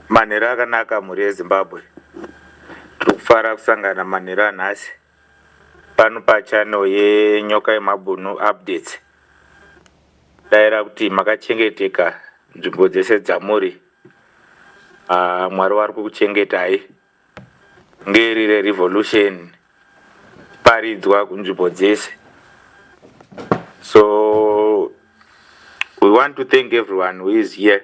Manheru akanaka mhuri yeZimbabwe. Tiri kufara kusangana manheru anhasi pano pachannel yeNyoka yeMabhunu Updates. Daira kuti makachengeteka nzvimbo dzese dzamuri. Ah, Mwari wari kukuchengetai. Ngeri rerevolution paridzwa kunzvimbo dzese. So we want to thank everyone who is here.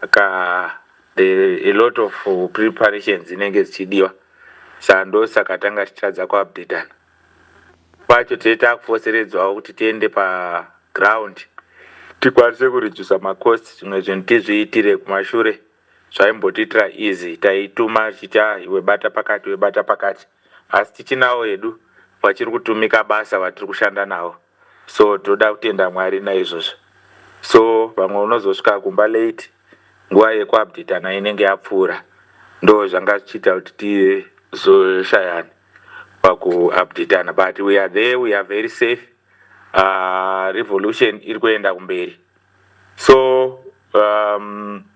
Saka there a lot of preparations dzinenge dzichidiwa saka ndosaka tanga tichitadza kuupdatana kwacho tee takufoseredzwawo kuti tiende paground tikwanise kuredusa macost zvimwe zvinhu tizviitire kumashure zvaimbotiitira easy taituma tichiti ah iwe bata pakati webata pakati asi tichinawo hedu vachiri kutumika basa vatiri kushanda navo so tinoda kutenda Mwari naizvozvo so pamwe unozosvika kumba late nguva yekuupdatana inenge yapfuura ndozvanga zvichiita kuti tizoshayana pakuupdatana but we are there we are very safe uh, revolution iri kuenda kumberi so um,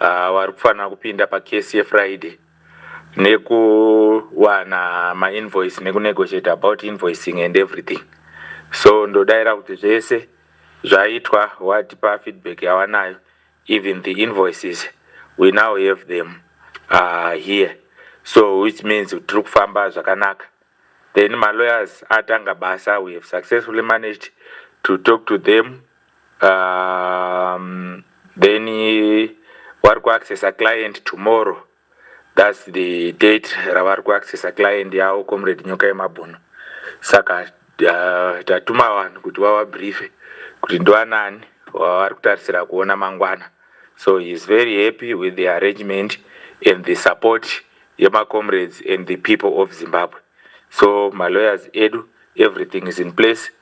uh, vari kufanira kupinda pacase yefriday nekuwana mainvoice nekunegotiate about invoicing and everything so ndodaira kuti zvese zvaitwa watipa feedback yawanayo even the invoices we now have them uh, here so which means tiri kufamba zvakanaka then malawyers atanga basa we have successfully managed to talk to them um, then vari kuaccessa client tomorrow thats the date ravari kuaccessa client yavo comrade nyoka yemabhunu saka uh, tatuma vanhu kuti vavabriefe kuti ndivanani vavari kutarisira kuona mangwana so he is very happy with the arrangement and the support yemacomrades and the people of zimbabwe so malawyers edu everything is in place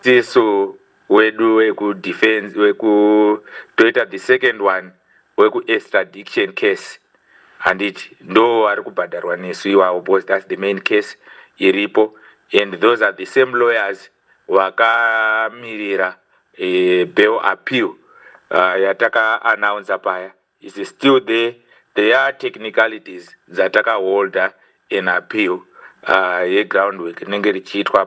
tisu wedu weku defense weku toita the second one weku extradiction case handiti ndo vari kubhadharwa nesu iwawo because that's the main case iripo and those are the same lawyers vakamirira uh, bail appeal uh, yataka announcer paya It's still there, there are technicalities dzatakaholder in appeal yegroundwork rinenge richiitwa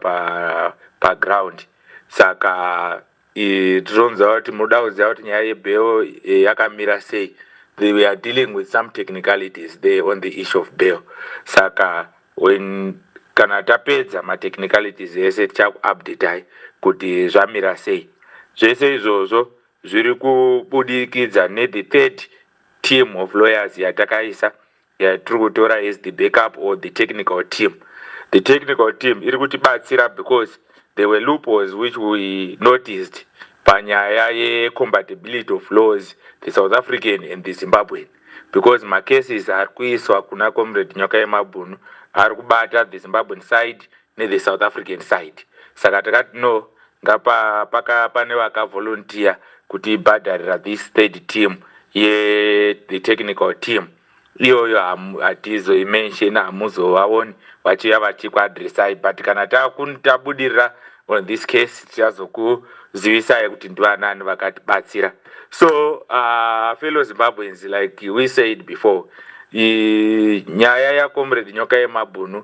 paground saka tironza kuti munoda kuziva kuti nyaya yebail eh, yakamira sei they were dealing with some technicalities there on the issue of bail saka when kana tapedza matechnicalities ese tichakuupdatai kuti zvamira sei zvese izvozvo Zviri kubudikidza ne the third team of lawyers yatakaisa yatiri kutora as the backup or the technical team. The technical team iri kutibatsira because there were loopholes which we noticed panyaya ye compatibility of laws the South African and the Zimbabwean because ma cases ari kuiswa kuna Comrade Nyoka Yemabhunu ari kubata the Zimbabwean side ne the south african side saka takati no ngapa paka pane vaka volunteer kuti bhadharira this third team ye the technical team iyoyo hatizoimensheni hamuzovaoni vachiuya vachikuadressai but kana tabudirira on this case tichazokuzivisai kuti ndivanani vakatibatsira so uh, fellow zimbabweans like we said before nyaya yacomrade nyoka yemabhunu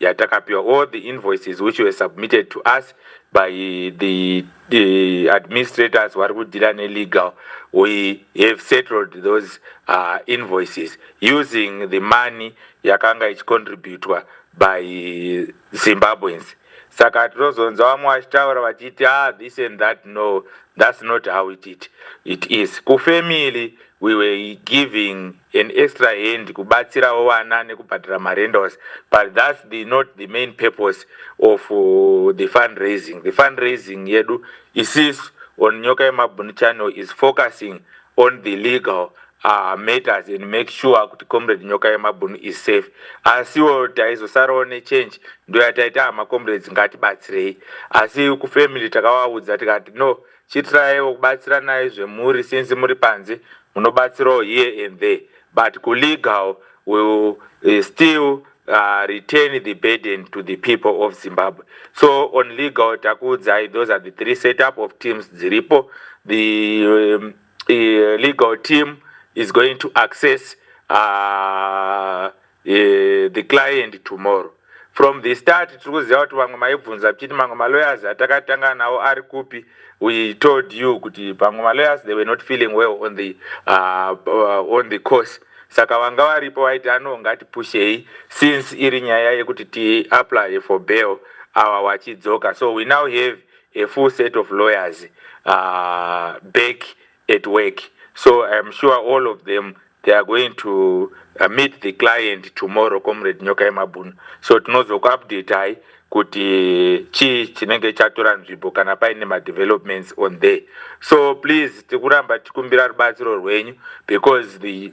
Yeah, takapiwa all the invoices which were submitted to us by the, the administrators vari kudhira nelegal. We have settled those uh, invoices using the money yakanga ichicontributwa by Zimbabweans. Saka tinozonza vamwe vachitaura vachiti ah, this and that. No, that's not how it, it, it is. Kufamily, we were giving an extra hand kubatsirawo vana nekubhadhara marendals but thats the not the main purpose of the fund raising the fund raising yedu isisu on nyoka yemabhunu channel is focusing on the legal uh, matters and make sure kuti comrade nyoka yemabhunu is safe asiwo taizosarawo nechange ndoyataita hama comrades ngatibatsirei asi kufamily takavaudza tikati no chitiraiwo kubatsiranai zvemhuri since muri panze munobatsirawo here and there but kulegal will eh, still uh, retain the burden to the people of Zimbabwe so on legal takuudzai those are the three setup of teams dziripo the um, uh, legal team is going to access uh, eh, the client tomorrow from the start tiri kuziva kuti vamwe maibvunza tichiti mamwe malawyers atakatanga nawo ari kupi we told you kuti pamwe malawyers they were not feeling well on the, uh, uh, on the course saka vanga varipo vaiti ano ngatipushei since iri nyaya yekuti tiapply for bail awa wachidzoka so we now have a full set of lawyers uh, back at work so i am sure all of them they are going to uh, meet the client tomorrow comrade nyoka yemabhunu so tinozokuupdatai kuti chii chinenge chatora nzvimbo kana paine madevelopments on there so please tikuramba tikumbira rubatsiro rwenyu because the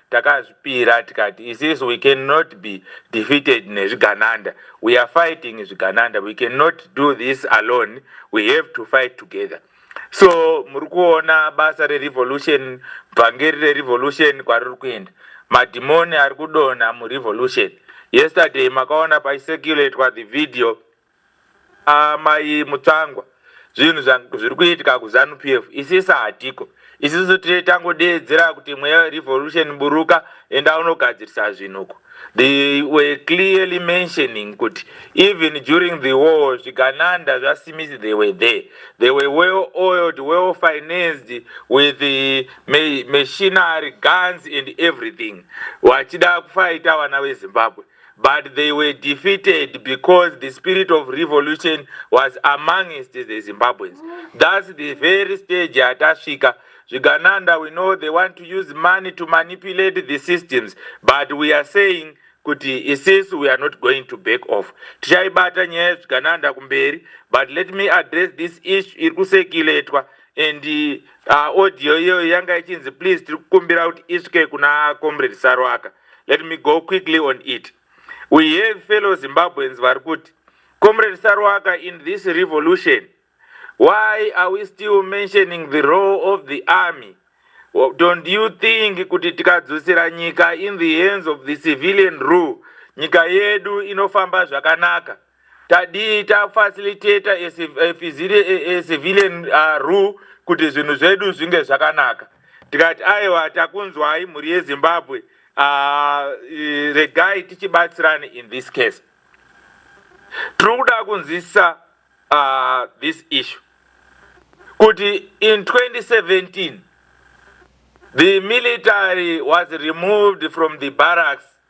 Takazvipira tikati isisu we can not be defeated nezvigananda. We are fighting zvigananda. We can not do this alone. We have to fight together. So muri kuona basa rerevolution, bvangeri rerevolution kwariri kuenda. Madhimoni ari kudonha murevolution. Yesterday makaona paiseculatewa the video Aah mai Mutsvangwa zvinhu zvangu zviri kuitika ku Zanu PF isisa hatiko isusu tiri tango deedzera kuti mweya we revolution buruka enda unogadzirisa zvinhu uko they were clearly mentioning kuti even during the war zvigananda zva Smith they were there they were well oiled well financed with the machinery guns and everything vachida kufaita vana ve Zimbabwe but they were defeated because the spirit of revolution was amongst the Zimbabweans. That's the very stage yatasvika. Zvigananda, we know they want to use money to manipulate the systems, but we are saying kuti isisu we are not going to back off. Tichaibata nyaya yezvigananda kumberi, but let me address this issue iri kusekiletwa and uh, audio iyoyo yanga ichinzi please tiri kukumbira kuti isvike kuna comrade Sarwaka. Let me go quickly on it. We have fellow Zimbabweans vari kuti, Comrade Saruwaka, in this revolution, why are we still mentioning the role of the army? Don't you think kuti tikadzosera nyika in the hands of the civilian rule, nyika yedu inofamba zvakanaka? tadii ta facilitator a, a, a civilian uh, rule kuti zvinhu zvedu zvinge zvakanaka tikati aiwa takunzwai mhuri yezimbabwe uh, regai tichibatsirani in this case tiri kuda kunzwisisa uh, this issue kuti in 2017 the military was removed from the barracks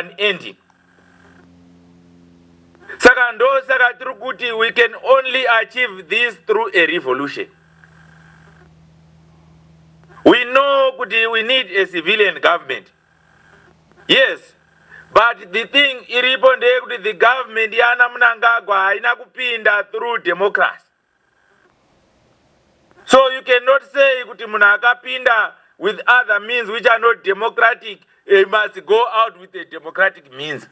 unending saka ndosaka tiri kuti we can only achieve this through a revolution we know kuti we need a civilian government yes but the thing iripo ndeyekuti the government yana munangagwa haina kupinda through democracy So you cannot say kuti munhu akapinda with other means which are not democratic, he must go out with a democratic means.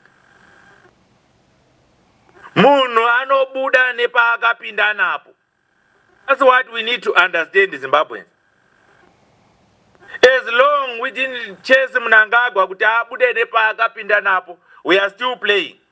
Munhu anobuda nepaakapinda napo. That's what we need to understand Zimbabweans. As long we didn't chase Mnangagwa kuti abude nepaakapinda napo, we are still playing.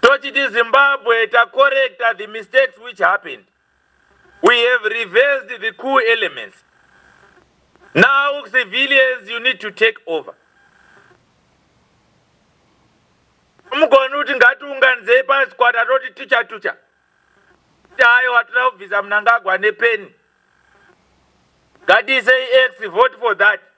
tochiti zimbabwe tacorrecta the mistakes which happened we have reversed the cool elements now civilians you need to take over mugoni kuti ngatiunganizei pasi kwata toti tucha tucha tayo watira kubvisa munangagwa nepeni ngatiisei x vote for that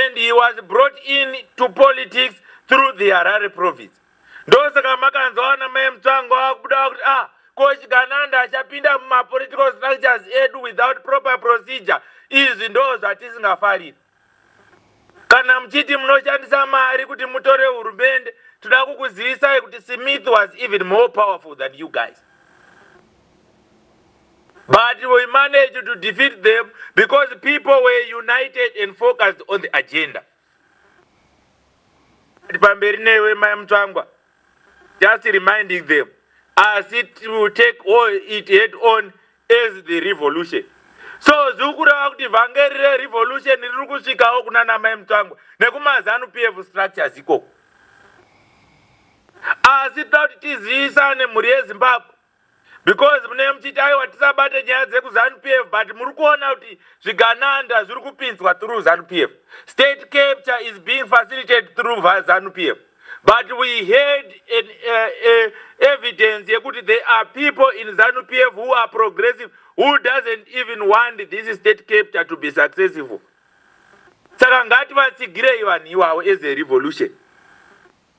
and he was brought in to politics through the Harare province ndosaka makanzwa ana mai Mutsvango akubuda kuti ah ko Chigananda achapinda mumapolitical structures edu without proper procedure izvi ndo zvatisingafariri Kana muchiti munoshandisa mari kuti mutore hurumende toda kukuzivisai kuti Smith was even more powerful than you guys but we managed to defeat them because people were united and focused on the agenda. Pamberi newe mai Mutsvangwa. just reminding them asi to take all it head on as the revolution so ziri kureva kuti vhangeri rerevolution riri kusvikawo kuna namai mutsvangwa nekumazanu pf structures ikoko asi toda kuti tizivisane mhuri yezimbabwe Because munenge muchiti aiwa tisabate nyaya dzeku zanu PF but muri kuona kuti zvigananda zviri kupinzwa through zanu PF. State capture is being facilitated through zanu PF. But we had an uh, uh, evidence yekuti there are people in zanu PF who are progressive who doesn't even want this state capture to be successful. Saka ngati vatsigirei vanhu iwawo as a revolution.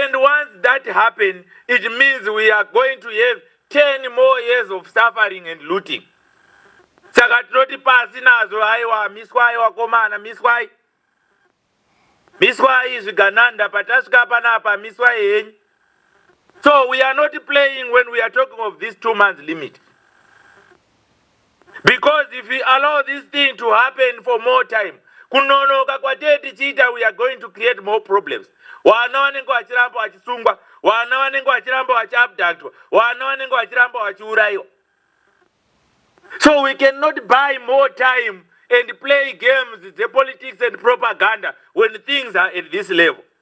And once that happen, it means we are going to have 10 more years of suffering and looting. Saka tinoti pasi nazvo aiwa miswai wakomana miswai. Miswai zvigananda patasvika panapa miswai henyu. So we are not playing when we are talking of this two months limit. because if we allow this thing to happen for more time kunonoka kwatee tichiita we are going to create more problems vana vanenge vachiramba vachisungwa vana vanenge vachiramba vachiabductwa vana vanenge vachiramba vachiurayiwa so we cannot buy more time and play games dzepolitics and propaganda when things are at this level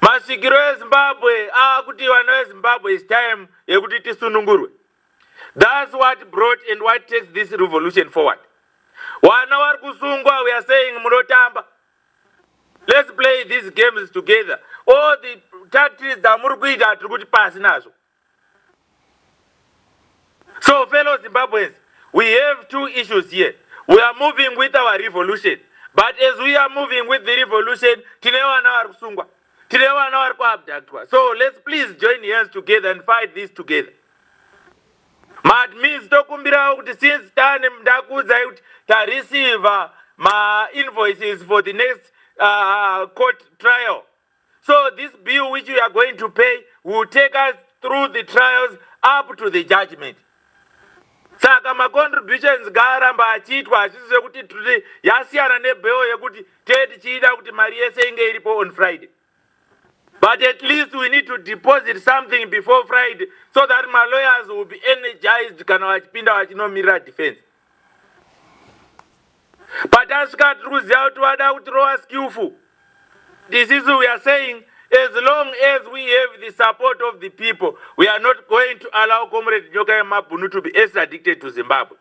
Masvikiro eZimbabwe aakuti vana veZimbabwe it's time yekuti tisunungurwe. That's what brought and what takes this revolution forward. Wana wari kusungwa we are saying munotamba. Let's play these games together. All the tactics dzamuri kuita tiri kuti pasi nazvo. So fellow Zimbabweans, we have two issues here. We are moving with our revolution. But as we are moving with the revolution, tine vana vari kusungwa. Tine vana vari kuabductwa. So let's please join hands together and fight this together. Maadmins tokumbirawo kuti since tane ndakuudzai kuti tareceiver ma invoices for the next uh, court trial So this bill which we are going to pay will take us through the trials up to the judgment. Saka ma contributions ngaaramba achiitwa hazvisi zvekuti tiri yasiyana nebill yekuti tee tichiida kuti mari yese inge iripo on Friday. But at least we need to deposit something before Friday so that my lawyers will be energized kana vachipinda vachinomirira defense. patasvika tiri kuziva kuti vada kutirova skillful this is we are saying as long as we have the support of the people we are not going to allow comrade nyoka yemabhunu to be as addicted to zimbabwe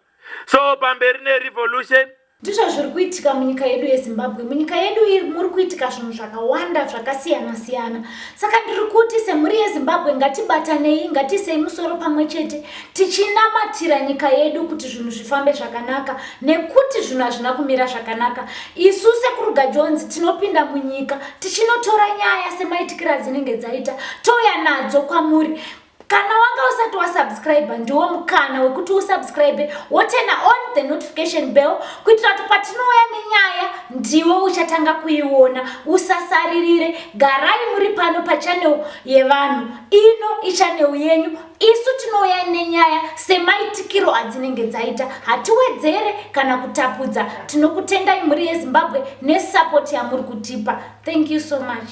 so pamberi nerevolution ndizvo zviri kuitika munyika yedu yezimbabwe munyika yedu iyi muri kuitika zvinhu zvakawanda zvakasiyana siyana saka ndiri kuti semhuri yezimbabwe ngatibatanei ngatiisei musoro pamwe chete tichinamatira nyika yedu kuti zvinhu zvifambe zvakanaka nekuti zvinhu hazvina kumira zvakanaka isu sekuruga jonzi tinopinda munyika tichinotora nyaya semaitikiro adzinenge dzaita touya nadzo kwamuri kana wanga usati wasubscribe ndiwo mukana wekuti usubscribe wotena on the notification bell kuitira kuti patinouya nenyaya ndiwe uchatanga kuiona usasaririre garai muri pano pachanel yevanhu ino ichanel yenyu isu tinouya nenyaya semaitikiro adzinenge dzaita hatiwedzere kana kutapudza tinokutendai mhuri yezimbabwe nesapoti yamuri kutipa thank you so much